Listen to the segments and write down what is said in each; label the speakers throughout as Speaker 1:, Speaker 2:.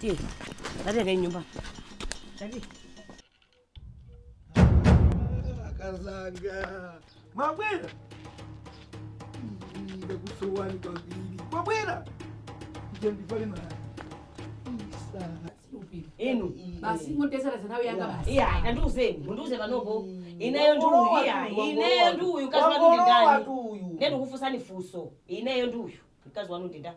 Speaker 1: Tiye. Dadi kaye nyumba.
Speaker 2: Dadi. Akazanga. Mwabwera. Ndakusowani kwambiri. Mwabwera. Ija ndipale
Speaker 1: mara. Inu. Basi
Speaker 3: mundiyesera zidole zanga basi. Iya,
Speaker 1: tandiuzeni, mundiuze panopo. Ineyo ndi uyu, iya, ineyo ndi uyu, mkazi wanu ndi ndani? Ndikufunsani funso. Ineyo ndi uyu, mkazi wanu ndi ndani?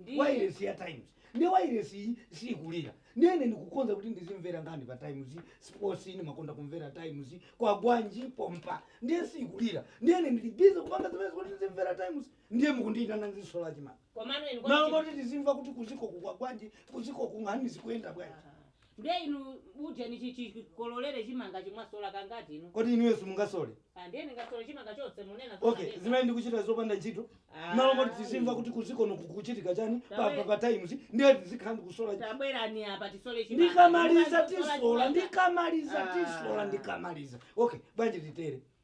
Speaker 2: Ndi- wailesi ya times ndi wailesi iyi siyikulira ndiyene ndikukonza kuti ndizimvera nkhani pa times sports ndimakonda kumvera times kwagwanji pompa ndiye siyikulira ndiyene ndili busy kupanga zimene kuti ndizimvera times ndiye mukundiitana ndizisola chimanga komano inu m'malo moti tizimva kuti kuziko kukwagwanji kuziko kunkhani zikuyenda bwanji Ndiye
Speaker 3: inu uje ni chikololere chimangachi mwasola kangati inu? Kodi inuyo
Speaker 2: simungasole? Ah, ndiye ningasole chimanga
Speaker 3: chonse munena zona Okay, neba. zimene ndikuchita
Speaker 2: zopanda ntchito. Ah, Malo moti tizimva kuti inu. kuziko kuno kukuchitika chani pa Tawe- pa pa times ndiye tizikhala ndikusola. Tabwerani apa
Speaker 3: tisole chimanga. Ndikamaliza Mukazi kusola tisola, chimanga. ndikamaliza
Speaker 2: tisola, Ah. ndikamaliza. Okay, bwanji titere.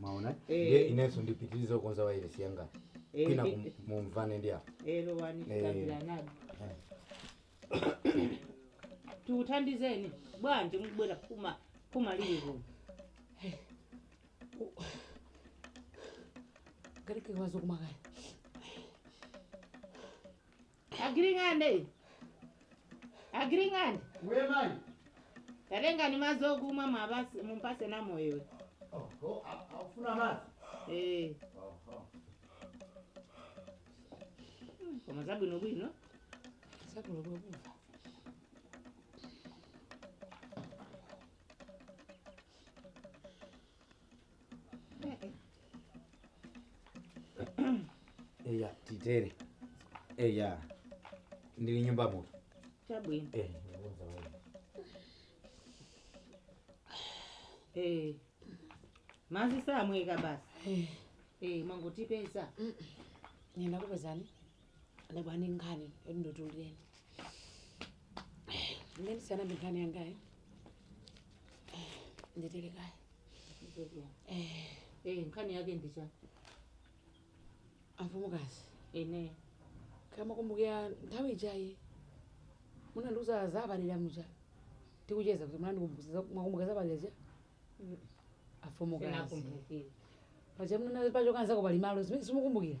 Speaker 2: mwaona Eh. ndiye inenso ndipitirize kukonza wairesi yanga Eh, kwina ndi- kum- mumvane ndi apa hello wani Eh.
Speaker 3: kabiranadi tikuthandizeni bwanji mubwera kuma kuma lili
Speaker 4: kuno Ngati kekwazo kumakaya.
Speaker 3: Agiring'ande. Agiring'ande. Wewe
Speaker 2: mali.
Speaker 3: Tatengani mazi okumwa mumpase mumpase Namoyo. Oh, oh, afuna
Speaker 2: mazi. Eh. Oh,
Speaker 3: oh. Koma zabwino bwino. Zabwino
Speaker 5: bwino.
Speaker 6: eya titere eya ndili nyumba muno chabwino
Speaker 3: Eh, ndikuwuza wewe. Eh, mazi samweka basi Eh, mwangotipeza
Speaker 5: ndakupezani Nde bwanji nkhani yoti nditulireni. Ndiye ndisanayambe nkhani yangayi. Nditere kaye.
Speaker 3: Eh, Eh, nkhani yake ndi
Speaker 5: chani amfumukazi.
Speaker 3: ine Kaya
Speaker 5: mwakumbukira nthawi ijayi munandiuza za abalira muja tikucheza kuti munandikumbukira mwakumbuka za abalira ja amfumukazi sinakumbukira
Speaker 3: paja munana
Speaker 5: pachoka nzako pali malo zimene simukumbukira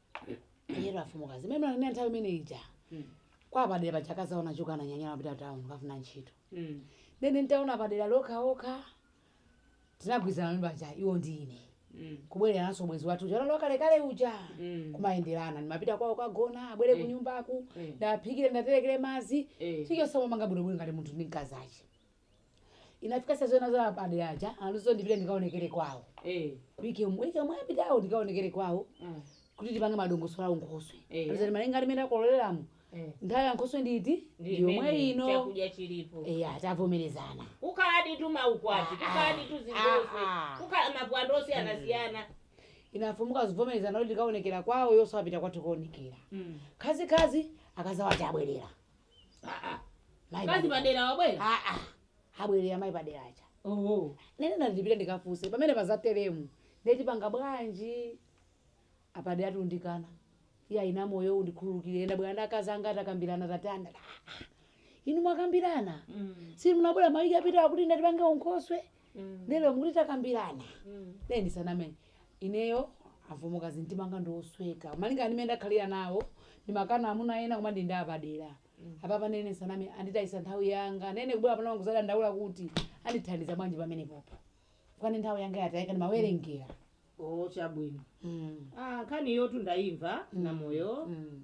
Speaker 5: Yero amfumukazi. Mimi na nani nthawi imene ija. Kwa Padera paja akazawo anachoka ananyanyala napita town kafuna ntchito. Mm. Nde ine ntaona Padera ali okhaokha. Tinagwirizana paja iwo ndi ine. Mm. kubwererananso ubwenzi wathu uja wakalekale uja Mm. kumayenderana ndimapita kwawo kagona abwere ku nyumbaku Mm. ndaphikire ndaterekere madzi Eh. chilichonse momanga bwinobwino ngati munthu ndi mkazi ache inafika sasa zona zona a Padera aja andiuza ndipite ndikaonekere kwawo Eh. wiki yomwe wiki yomwe yapitayo ndikaonekere kwawo Mm. kuti tipange madongosolo a unkhoswe Eh. alizani malinga ndi mmene takololeramu Eh. nthawi ya unkhoswe nditi Ndi yomwe imene ino chakudya
Speaker 3: chilipo eya
Speaker 5: tavomerezana kukhaladi
Speaker 3: tu maukwati kukhaladi tu zinkhoswe Ah, ah. kukhala mapwando osiyanasiyana ine
Speaker 5: amfumukazi kuvomerezana kuti ndikaonekera kwawo iwonso apita kwathu kuonekera khazikhazi akazawo ati abwerera Ah, ah.
Speaker 3: Mai Mkazi wa Padera. padera wabwera. Ah, ah.
Speaker 5: abwerera mai padera aja Oh. nde
Speaker 3: ine ndati ndipite ndikafuse
Speaker 5: pamene pazateremu nde tipanga bwanji a Padera akundikana iyayi Namoyo undikhululukire ndabwererana ndi akazi anga takambirana tatani inu mwakambirana Mm. si munabwera mawiki apitawa kuti tipange unkhoswe Mm. lero mukuti takambirana Mm. nde ndisaname ineyo amfumukazi mtima wanga ndiwosweka malinga ndi mmene ndakhalira nawo ndimakana amuna ena koma ndili ndi a Padera apapa ine ndisaname anditayisa nthawi yanga nde ine kubwera pano nkuzadandaula kuti andithandiza bwanji pamenepapa kwani nthawi yanga yatayika ndimawerengera o chabwino
Speaker 3: Mm, Ah, nkhaniyotu ndayimva Namoyo mm,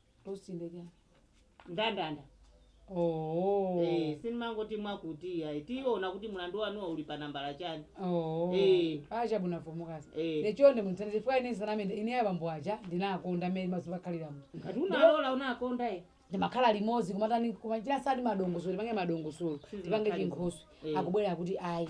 Speaker 3: Roster
Speaker 5: nde chani?
Speaker 3: Ndandanda. Oh. Eh, sindimangoti mwakuti ayi. Tiona kuti mulandu wanuwa uli pa nambala chani. Oh. Eh. Ah
Speaker 5: chabwino amfumukazi. Eh. Nde chonde mundithandize chifukwa ine ndisaname ine abambo aja ndinawakonda mmene mazuva khalira mu. Ngati unalola
Speaker 3: unakonda e. ndimakhala limodzi
Speaker 5: kumatani kumachira sati madongosolo tipange madongosolo tipange Zimakhala- chinkhoswe Eh. akubwera kuti ayi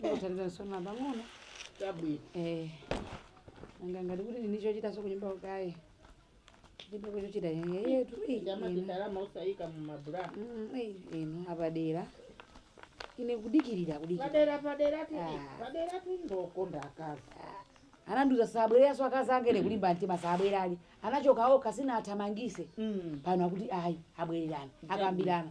Speaker 5: Ndikuthandizani sono pang'ono.
Speaker 3: Chabwino. Eh.
Speaker 5: Nanga ngati kuti ndili ndi chochitaso kunyumbako ayi. Ndipo kuchochita yeye tu. eh, Ndama inu. ndalama
Speaker 3: usayika mu mabulana. Mm, eh, inu
Speaker 5: a Padera. Ine kudikirira kudikirira. Padera
Speaker 3: padera tili. Ah. Paderatu ndi okonda akazi.
Speaker 5: anandiuza sabwereranso akazi ake ine kulimba mtima sabwera ali anachoka okha sindinawathamangise Mm. pano akuti ayi abwererana akambirana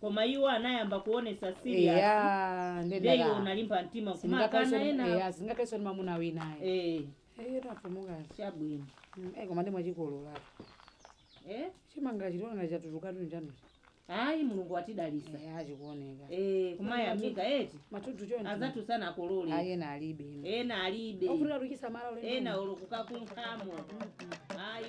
Speaker 3: koma
Speaker 5: iwo
Speaker 3: anayamba kuonesa serious nde iwe unalimba mtima kumakana enawo sindingakhaleso ndi mamuna
Speaker 5: wina ayi eh Eh, tu amfumukazi chabwino
Speaker 3: Eh, koma
Speaker 5: nde mwachikolola eh chimanga chitiona chatutukatu njanuzi ayi mulungu
Speaker 3: watidalisa ah
Speaker 5: chikuoneka eh kumayamika
Speaker 3: eti matutu choncho
Speaker 5: azathu
Speaker 3: sanakolole ayena alibe
Speaker 5: inu ena
Speaker 3: alibe ofunika tuzisamala
Speaker 5: ena olo
Speaker 3: kukakunkhamo ayi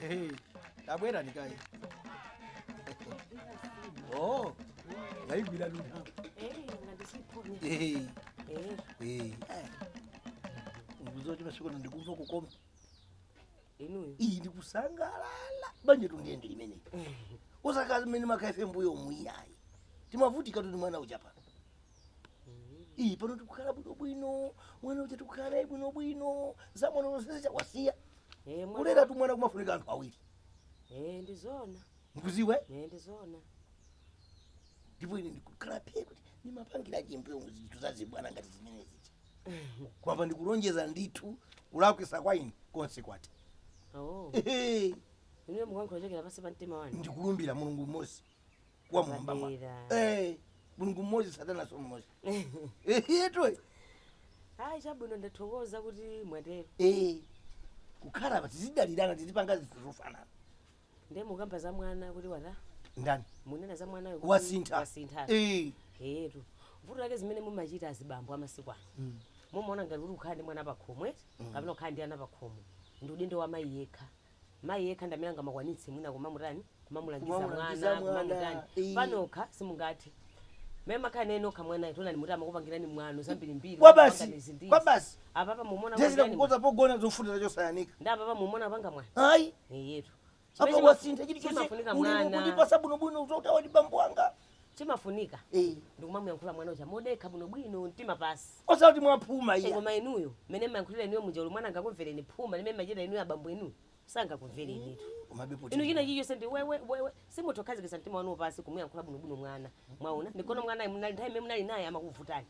Speaker 2: Hey, tabwera nikaye oh yaigwira luna Hey, hey. Nkuuze kuti masiku ano ndikumva
Speaker 1: kukoma inuyo
Speaker 2: iyi ndikusangalala banjatu ndiye ndi limeneli osati zimene timakhalira mmbuyomu iyayi timavutika tu ndi mwana uja iyi mm-hmm. pano tikukhala bwinobwino mwana uja tikukhala naye bwinobwino za mwano zonse zija kwasiya eh, kulera tu mwana kumafunika anthu awiri eh, ndizona
Speaker 1: mukudziwa
Speaker 2: eh, ndizona ndipo ine ndikukhala phe kuti ndimapangira chi mmbuyo zinthu zazibwana ngati zimene zija kwamba ndikulonjeza ndithu kulakwisa kwa ine konse
Speaker 1: kwatha oh. ndikulumbira mulungu mmodzi
Speaker 2: wa kumwamba. eh mulungu mmodzi satananso mmodzi eh eyetu
Speaker 1: ayi chabwino ndathokoza kuti mwatero eh
Speaker 2: kukhala basi tizidalirana tizipanga zinthu zofanana ndiye
Speaker 1: mukamba za mwana kuti watani
Speaker 2: munena za mwanayo
Speaker 1: kuti wasintha
Speaker 2: wasintha
Speaker 1: eh eetu vuto lake zimene mumachita azibambo amasiku ano Mm. mumaona ngati kuti ukhala ndi mwana pakhomo eti kapena ukhala ndi ana pakhomo ndi udindo wa mayi yekha mayi yekha ndamene angamakwanitse mwina kumamutani kumamulangiza mwana, kumamutani eh. panokha simungathe mmene mumakhala naye nokha mwanayo ndiye munati amakupangirani mwano zambirimbiri Kwa basi, kupangani izi ndi kwa izi.
Speaker 2: basi. apapa mukumuona
Speaker 1: zedi akupangirani kukonza
Speaker 2: pogona zofunda wachotsa wayanika ndiye apapa mukumuona
Speaker 1: kupanga mwana ayi iyetu apa wasintha
Speaker 2: chilichonse ulemu kundipatsa
Speaker 1: bwinobwino kudziwa
Speaker 2: kuti awa ndi bambo anga
Speaker 1: chimafunika Eh. ndikumamuyankhula mwana uja modekha bwinobwino mtima pansi osati
Speaker 2: mwaphuma iya koma inuyo mmene
Speaker 1: mmayankhulira inuyo muja olo mwana angakumvereni phuma limene mmachita inuyo abambo inuyo sangakumverenitu inu china chilichonse ndi wewe wewe simutha kukhazikitsa mtima wanu pansi kumuyankhula bwinobwino mwana mwaona ndikono mwanayo nthawi imene munali naye amakuvutani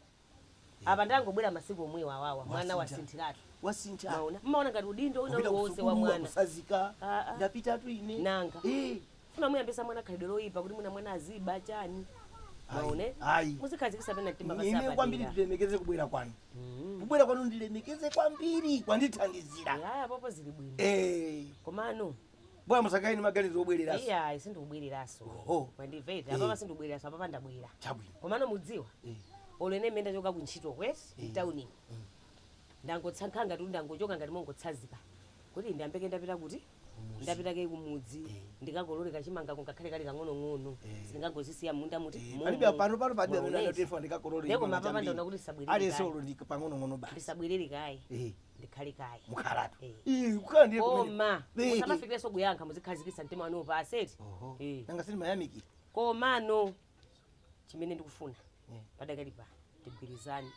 Speaker 1: apa ndangobwera masiku omwe awawa mwana Wasintha. wasinthiratu wasintha
Speaker 2: mwaona mmaona
Speaker 1: ngati udindo wina Kupita uliwonse wa kusukulu, mwana wakutsanzika Ah, ah.
Speaker 2: ndapitatu ine Nanga. Eh,
Speaker 1: mufuna mumuyambitse mwana khalidwe loyipa kuti mwina mwana aziba chani Ayi, mwaona ayi. muzikhazikitsa pena mtima pansi ine kwambiri apadera
Speaker 2: ndilemekeze kubwera kwanu Mm. kubwera kwanu ndilemekeze kwambiri kwandithandizira Eh, ayi apopo zili
Speaker 1: bwino Eh, komano Bwana
Speaker 2: musakhale ni maganizo obwereraso. Iya, sindikubwereraso.
Speaker 1: Oho. Mwandimva eti? Eh. Apapa sindikubwereraso, apapa ndabwera. Chabwino. Komano mudziwa, Eh. olo ine mmene ndachoka kuntchitoko eti, Eh. mtauni. Ndangotsankha ngati ndangochoka ngati mongotsazika. Kuti ndiyambe kaye ndapita kuti? Kumudzi. Ndapita kaye kumudzi. Eh. Ndikakolole kachimanga kungakhale kali kang'onong'ono. Eh. Sindingangozisiya m'mundamu eti. Eh, momo. Palibe apano pano palibe amene
Speaker 2: Mwaonesa. anati ifa ndikakolole. Nde chimanga koma apapa chambiri. ndaona kuti
Speaker 1: ndisabwerere Aliyense kaye. olo ndi pang'onong'ono
Speaker 2: basi. Ndisabwerere kaye.
Speaker 1: Eh. ndikhale kaye mukhalatu
Speaker 2: Eh. Ii, kukhala ndiye kumene- koma
Speaker 1: Beke. musamafikireso kuyankha muzikhazikisa mtima wanu pansi eti Oho. Eh. nanga si
Speaker 2: ndimayamikira komano
Speaker 1: chimene ndikufuna Eh. padakali pa tigwirizane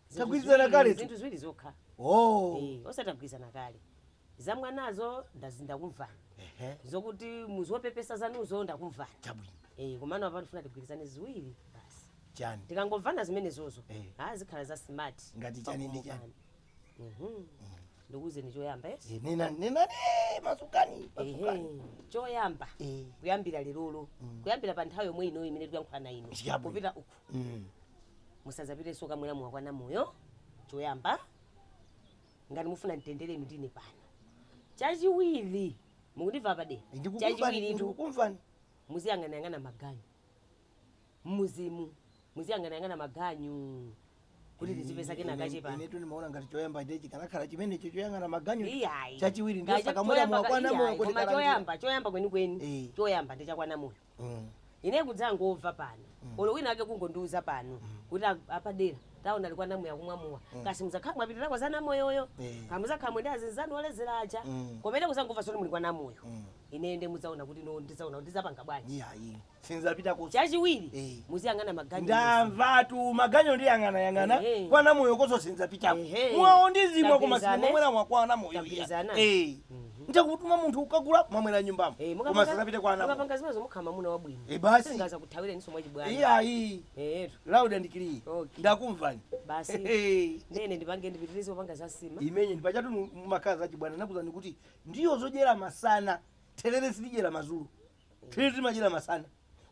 Speaker 1: Zinthu
Speaker 2: Tagwirizana ziwiri- kale tu. zinthu ziwiri zokha
Speaker 1: oh Eh, osatagwirizana kale Za mwanazo ndazi ndakumvani. Ehe. Zokuti muzopepesa zanuzo ndakumvani. Chabwino. Eh
Speaker 2: komano apa ndifuna
Speaker 1: tigwirizane ziwiri basi. Chani. Tikangomvana
Speaker 2: zimenezozo.
Speaker 1: Eh. Ah zikhala za smart. Ngati chani ndi chani.
Speaker 2: Mhm.
Speaker 1: Ndikuuzeni choyamba eti. Eh, nena nena
Speaker 2: eh, masukani. Masukani.
Speaker 1: Ehe. Choyamba. Eh. Kuyambira lerolo. Kuyambira pa nthawi yomwe ino imene tikuyankhulana ino. Chabwino. Kupita uku. Mm. musazapiteso kukamwera mowa kwa Namoyo choyamba ngati mufuna mtendere inu ndine pano chachiwiri mukundimva apadera ndikukumvani chachiwiritu ndikukumvani
Speaker 2: muziyang'anayang'ana
Speaker 1: maganyu mmuzimu muziyang'anayang'ana maganyu kuti tizipeza kena kache pano inetu ndimaona ngati
Speaker 2: choyamba ndiye chikanakhala chimenecho choyang'ana maganyu iyayi chachiwiri ndiye
Speaker 1: Ngacho-
Speaker 2: osakamwera choyamba- mowa kwa iyayi, Namoyo kuti koma kalandira. choyamba choyamba kwenikweni
Speaker 1: Eh. choyamba ndi cha kwa Namoyo mm. ine kudzangomva pano mm. olo wina ake kungondiuza pano mm. kuti apadera tawaona ali kwa namoyo akumwa mowa mm. kaya muzakhala mwapitirako za namoyoyo mm. Eh. kaya muzakhala mwende azinzanu olezera aja mm. koma ine kuzangomva zoti muli kwa namoyo mm. ine nde muzaona kuti no ndizaona kuti zapanga bwanji yayi
Speaker 2: sinzapitako chachiwiri hey. Eh.
Speaker 1: muziyang'ana maganyu ndamvatu
Speaker 2: maganyu ndiyang'anayang'ana hey. Eh, eh. kwa namoyokoso sinzapita hey. mowawo ndizimwa koma sindimwera mowa kwa namoyo hey. mm. Nde kumutuma munthu kukagula kumamwera nyumbamo. Eh, Koma mukapanga sinzapita kwa anako. mukapanga zimenezo mukhala
Speaker 1: mwamuna wabwino. Eh, basi. Singazakuthawireniso mwachibwana. Iyayi. Eh,
Speaker 2: Loud and clear. Okay. Ndakumvani. basi. Hey.
Speaker 1: Nde ine ndipange ndipitirize kupanga za sima. imeneyo
Speaker 2: ndipachatu makazi achibwana nakuuzani kuti ndiwo zodyera masana therere sitidyera mazulo therere timadyera masana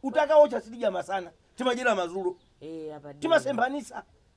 Speaker 2: utaka wootcha sitidya masana timadyera mazulo Eh, apa. ndi- timasemphanisa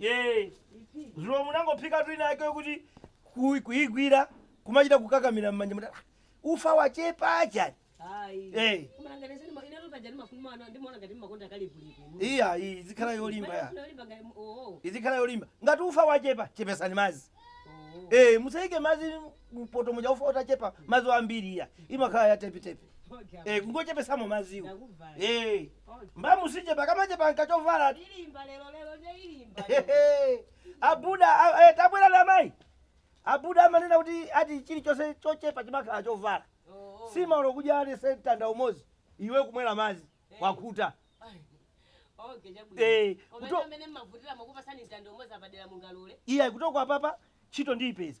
Speaker 2: Eh, zulo munangophikatu ina yake yokuti ku- kuigwira kumachita kukakamira m'manjamu ati ufa wachepa chani Eh. iyayi izikhala yolimba ya izikhala yolimba ngati ufa wachepa chepesani mazi Eh, musayike mazi mpoto muja ufa utachepa madzi wambiri iya imakhala ya tepitepi e, kungochepesamo madziwo e, mbamu siichepa kamachepa n'kachovala Ilimba lero lero nde ilimba. Hehe. abuda a- eh, tabwera na mayi abuda amanena kuti ati chilichonse chochepa chimakhala chovala, Oh, oh. nsima ulo kudya ali sentanda umozi iwe kumwera madzi wakhuta Okay, chabwino. Eh, Koma kuto- ine amene mmavutira mukupasani mtanda umodzi apadera mungalule. iya kutoka apapa ntchito ndiyipeza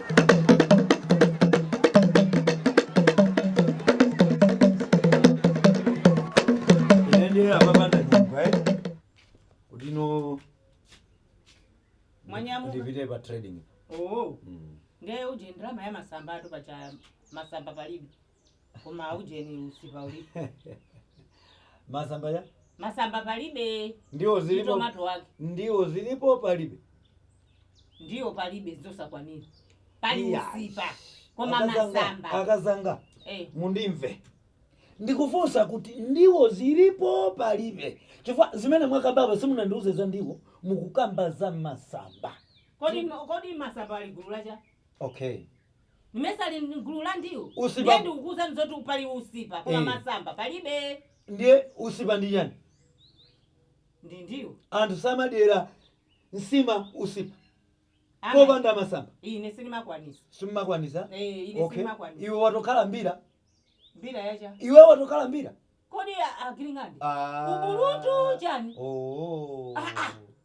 Speaker 6: Inaendelea baba na nyumba eh. Ulino Mwanyamuka. ndipite pa trading. Oh. Mm.
Speaker 3: Ndiye uje ndrama ya masamba atu pacha masamba palibe. koma aujeni usipa ulipo masamba masamba palibe ndiwo zilipo tomato
Speaker 6: wake ndiwo
Speaker 3: zilipo
Speaker 6: palibe
Speaker 3: ndiwo palibe zosakwanira pali Iya. usipa koma Akazanga- masamba
Speaker 2: akazanga eh. mundimve ndikufunsa kuti ndiwo zilipo palibe chifukwa zimene mwakambapo simunandiuze za ndiwo mukukamba za masamba kodi kodi
Speaker 3: masamba ali gulu la cha
Speaker 6: Okay.
Speaker 3: Mmesa ali mgulu la ndiwo. Usipa. Ndiye
Speaker 2: ndikukuuzani
Speaker 3: zoti pali usipa koma Eh. masamba palibe. Ndiye usipa
Speaker 2: ndi chani?
Speaker 3: Ndi ndiwo. Anthu
Speaker 2: samadyera nsima usipa Ama- popanda masamba. Ine
Speaker 3: sindimakwanisa. Simumakwanisa?
Speaker 2: Eh, ine Okay.
Speaker 3: sindimakwanisa. Iwe watokhala
Speaker 2: mbira. Mbira ya
Speaker 3: cha. Iwe watokhala
Speaker 2: mbira. Kodi a-
Speaker 3: agiling'ande? Ah. Ubulutu chani? Oh. Ah, ah.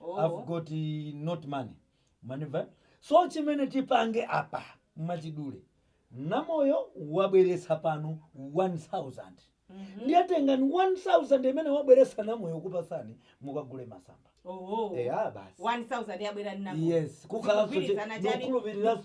Speaker 6: Oh. I've got eh, not money manimva so chimene tipange apa mwachidule namoyo wabweretsa pano 1000 ndiye tengani 1000 imene wabweretsa namoyo kupatsani mukagule masamba Oh. eya basi 1000 yabwera
Speaker 3: ninamu yes kukhalanso
Speaker 6: Zikugwirizana chani? ndikukhulupiriranso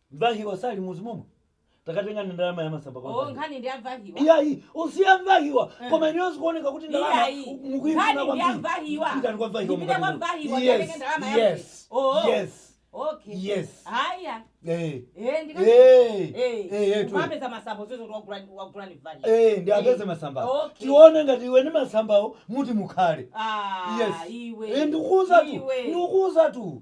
Speaker 6: Mvahiwa ali m'mudzi momwo takatengani ndalama ya masamba kwa Mvahiwa. Nkhani ndi ya Mvahiwa.
Speaker 3: Iyayi
Speaker 6: usiye Mvahiwa koma ineyo zikuoneka kuti ndalama mukuifuna kwambiri pitani kwa Mvahiwa
Speaker 3: yes yes
Speaker 6: Okay. Yes. Haya. Eh.
Speaker 3: Eh, ndika. Eh. Eh. Eh, tu. Wapeza masamba zozo kwa gulani wa gulani vali. Eh, ndiapeze masambawo.
Speaker 6: Okay. Tione ngati iwe ni masambawo muti mukhale. Ah, yes. Iwe. Eh, ndikuuza
Speaker 3: tu.
Speaker 6: Ndikuuza tu.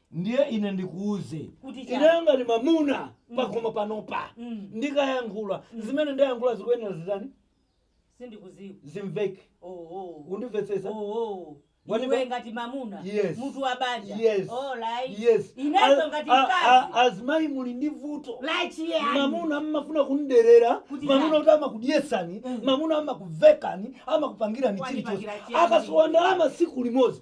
Speaker 6: Ndiye ine ndikuuze Kuti chani? ineyo ngati mamuna pakhomo panopa Mm. ndikayankhula zimene ndayankhula zikuyenera zitani Sindikuziwa.
Speaker 3: zimveke
Speaker 6: Oh oh. undimvetsetsa Oh oh.
Speaker 3: Wanimva? Iwe ngati mamuna. Yes. Mutu
Speaker 6: wa banja. yes
Speaker 3: Oh right. yes Inenso A-
Speaker 6: ngati a-
Speaker 3: a- mkazi. azimayi muli
Speaker 6: ndi vuto Like chiyani?
Speaker 3: mamuna
Speaker 6: mmafuna kumderera Kuti mamuna chani? kuti amakudyesani Mm. mamuna amakuvekani amakupangirani Wanipangira chilichonse chiyani? akasowa ndalama siku limodzi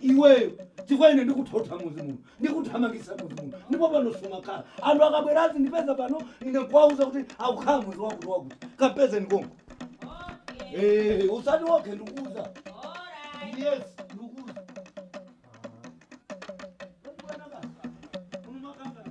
Speaker 6: iweyo chifukwa ine ndikuthotha muzi muno ndikuthamangisa muzi muno ndipo pano sumakhala anthu akabwera azindipeza pano ine kuwauza kuti akukhala muzi wakuti wakuti kapeze nkongo Eh, osati woke ndikuuza yes ndikuuza Ah. Unamakanga, unamakanga.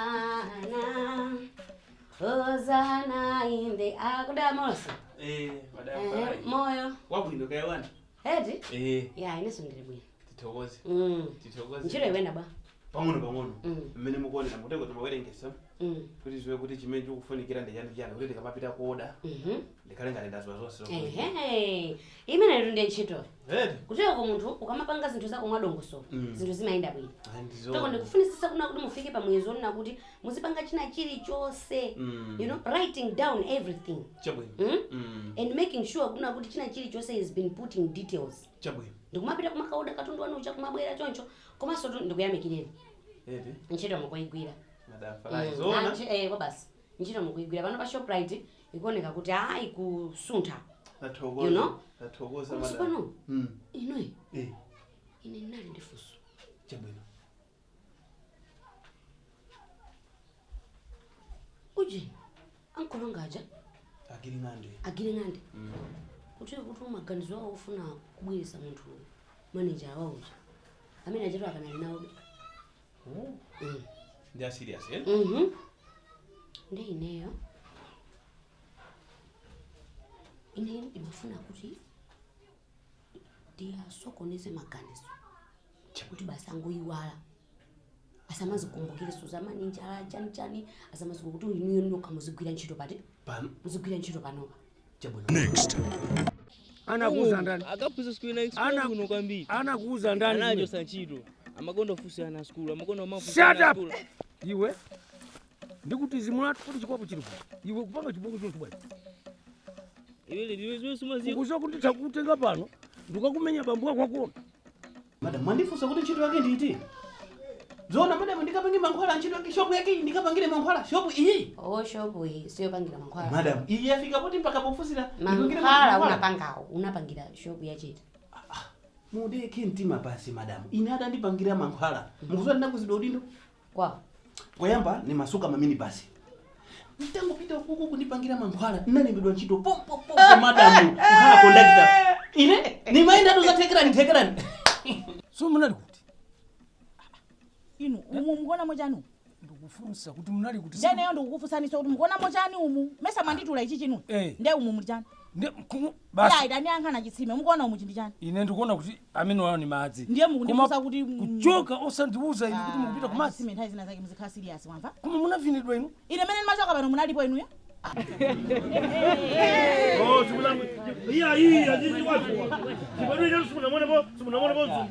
Speaker 5: Hosanna, Hosanna
Speaker 7: in
Speaker 5: the akuda
Speaker 7: mose Eh,
Speaker 5: eh,
Speaker 7: madam. moyo
Speaker 5: Wabwino
Speaker 7: kaya wawa.
Speaker 1: eti Eh, ya ineso ndili bwino tithokoze.
Speaker 7: Mm. Tithokoze. ntchito ikuyenda
Speaker 1: bwa pang'ono pang'ono
Speaker 7: Mm. mmene mukuonera muteko timawerengesa Mm. kuti ndidziwe kuti chimene chikufunikira ndi chani chani kuti tikamapita kuoda Mhm. ndikhale ngati ndaziwa zonse Ehe.
Speaker 1: imeneyo ndi ntchito Eti.
Speaker 7: kutereko
Speaker 1: munthu ukamapanga zinthu zako mwadongosolo Mm. zinthu zimayenda bwino Ayi, ndithu zoona. ndikufunisisa kunena kuti mufike pa muyezo onena kuti muzipanga china chilichonse Mm. you know writing down everything Chabwino. Mm? Mm.
Speaker 7: and
Speaker 1: making sure kunena kuti china chilichonse has been put in details Chabwino.
Speaker 7: ndikumapita
Speaker 1: kumakaoda katundu wanu uja kumabwera choncho komansotu ndikuyamikireni Eti.
Speaker 7: ntchito mukuigwira Modabwitsa. Ayi, zoona. kwabasi
Speaker 1: ntchito mukuigwira pano pa shoprite ikuoneka kuti aa ikusuntha you know komanso
Speaker 7: pano
Speaker 1: hmm. inoyi eh. ine ndinali ndi funso chabwino ujeni ankolo anga aja agiri ng'ande agiri ng'ande hmm. kuti kuti maganizo awo ofuna kubweresa munthu maneja wawo uja amene achatu akanali nawobe
Speaker 7: ndi a serious eh?
Speaker 1: Mhm. ndi ineyo ineyo ndimafuna kuti ndiyasokoneze maganizo kuti basi angoyiwala asamazikumbukirenso zamaneja chani chani asamazikumbukire kuti inuyo ndi nokha muzigwira ntchito pati pano muzigwira ntchito panopa
Speaker 4: anakuuza ndani akafunsa siku ina explore
Speaker 8: Ana- kuno kwambiri anakuuza ndani anajoo
Speaker 4: zantchito
Speaker 8: amakonda funso ana sukulu amakonda mafunso Shut ana up! sukulu
Speaker 4: iwe ndikuti zimbulatu kuti chikwapu chilipo iwe kupanga chibwana chino
Speaker 8: chibwachi iwe iwe iwe sumamva ukuziwa kuti takutenga
Speaker 4: pano ndikakumenya bambo wako wakuona
Speaker 7: madam mwandifunsa kuti ntchito yake ndi iti zona madam ndikapange mankhwala ntchito yake shopu yake iyi ndikapangire mankhwala shopu iyi oh shopu iyi
Speaker 1: siyopangira mankhwala madam iyi yafika poti
Speaker 7: mpaka pofusira ndipangire mankhwala unapanga
Speaker 1: unapangira shopu yaiti mudekhe
Speaker 7: mtima pansi madam ine adandipangira mankhwala mukuziwa ndinakwezedwa udindo
Speaker 1: kwa
Speaker 7: poyamba nimatsuka maminibasi nditangopita uku kukandipangira mankhwala ndinalembedwa ntchito pompopo madamu kukhala kondakitala ine nimayenda ku Thekerani Thekerani
Speaker 4: so munali
Speaker 5: kuti inu umu mukuonamo chani ndikufunsa kuti
Speaker 4: munali kuti inu ineyo ndikukufunsaninso kuti
Speaker 5: mukuonamo chani umu mesa mwanditula ichi chinu Eh. nde umu muli chani Ndi- kumu- Iye
Speaker 4: basi ayi tandiyankhani
Speaker 5: chitsime mukuona umu ndi chani ine ndikuona
Speaker 4: kuti amenewa ni madzi Ndiye mukundifunsa Koma kuti-
Speaker 5: kuchoka osandiuza
Speaker 4: ine kuti mukupita kumadzi chitsime nthawi zina zake muzikhala serious
Speaker 5: wamva koma munavinidwa
Speaker 4: inu ine mene ndimachoka
Speaker 5: pano munalipo
Speaker 6: inuyo Oh, simunalipo. Iya, iya, nyinyi watu. Sibadili leo simunamuone bo, simunamuone bo zungu.